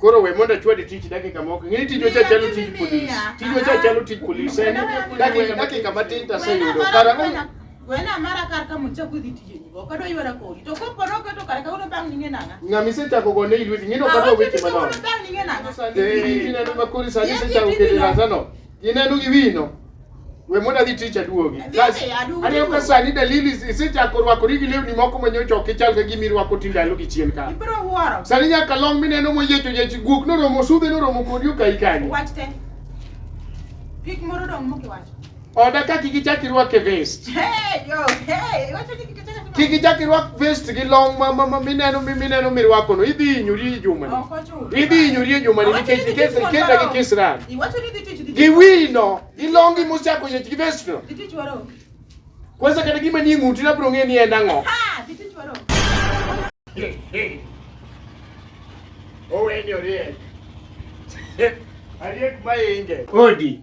Koro we mondo achwadi tich dakika moko. Ng'e tijwa cha chalo tij polis. Tijwa cha chalo tij polis. En dakika dakika matin to aseyudo. Karang'o? Gwena mara kar ka mucha kudhi tije ni boko do ywara kodi to ko poro ko to kar ka uno bang ninge nanga Ng'ama isechako go ne ilweti ng'ino kata weche uno manono. bang ninge nanga Eh, Ineno ma kori sani isechako kedo e razano. Ineno gi wino. We mondo adhi tich aduogi. Adhi Kas- adhi, aduogi. Aneno ka sani dalili is- isechako rwakori gi lewni moko ma nyocha ok ichal ka gima irwako ti ndalo gi chien ka. Ibiro wuoro. Sani nyaka long mineno moyiecho yechi guok noromo sudhe noromo kodi okayi kanyo. Wach te. Pik moro dong' mokiwacho. Oda kaki gichaki rwake vest. Hey, yo, hey, iwacho ni Kik ichak irwak vest gi long ma ma ma mineno mi mineno mirwako no. Idhi hinyori e juma ni. Ok ochuno. Idhi hinyori e juma ni Awacho nikech ni nikech tich iketa gi moro. kisran. Iwacho ni dhi tich dhi Gi tich. wino, gi longi mosako yech gi vest no. Dhi tich waro. Kwanza kata gima ni ng'uti na bro ng'e ni en ang'o. Ha, dhi tich waro. Oweni oriek. Ariek ma inge. Odi.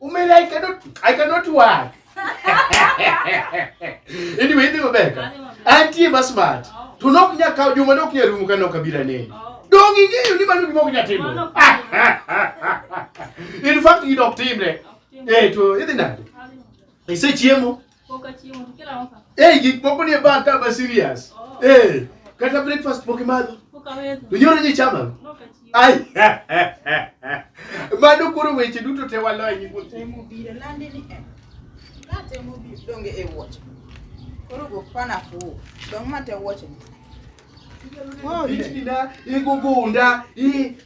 Umele I cannot I cannot work. Anyway, ndio beka. Anti bas mat. Tunok nya ka juma nok nya rumu kana kabila nini. Oh. Dongi ngeyo ni manu gimok nya timo. In fact, you don't team ne. Eh to idhi nade? Ise chiemo. Hey, gik moko ni ba ka ba serious. Oh. Hey, kata breakfast pok imadho. To nyoro ji chama. Ai. Mano koro weche duto te waloyo ni wuoth. Temo biro lande ni en. Na temo biro donge e wuoch. Koro go pana fu. Dong ma te wuoch ni. Oh, itina, igogonda, i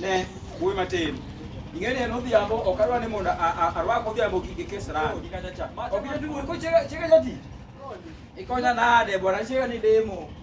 Ne, wuoyi matin. ing'eni en odhiambo ok adwa ni mondo arwak odhiambo gi kisran ok inyal tugo ko chega chega jati ikonya nade bwana chega ni demo